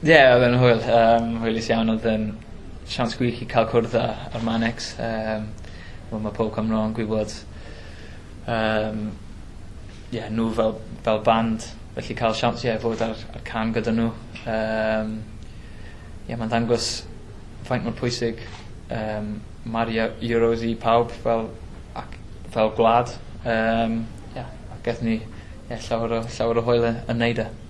Ie odd e'n hwyl yym hwylus iawn odd e'n siawns gwych i ca'l cwrdd â â Manex yym wel ma' pob Cymro yn gwybod yym ie nw fel fel band felly ca'l siawns ie fod ar ar cân gyda nw yym ie ma'n ddangos faint mor pwysig yym ma'r Eur- Euros i pawb fel ac fel gwlad yym ie a gethon ni ie llawer o llawer o hwyl y- yn neud e.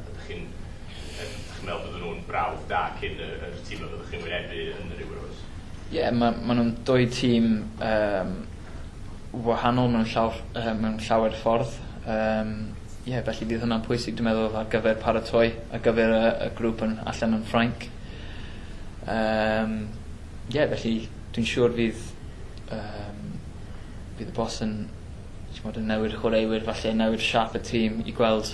Ydych chi'n yym dych chi'n meddwl bydden nhw'n brawf da cyn y yr tîm y fyddwch chi'n wynebu yn yr Euros? Ie ma' ma' nw'n dwy tîm yym wahanol mewn llaw ff- yy mewn llawer ffordd yym ie felly bydd hwnna'n pwysig dwi meddwl ar gyfer paratoi ar gyfer y y grŵp yn allan yn Ffrainc. Yym ie felly dwi'n siŵr fydd yym bydd y boss yn t'mod yn newy'r chwaraewyr falle newy'r siâp y tîm i gweld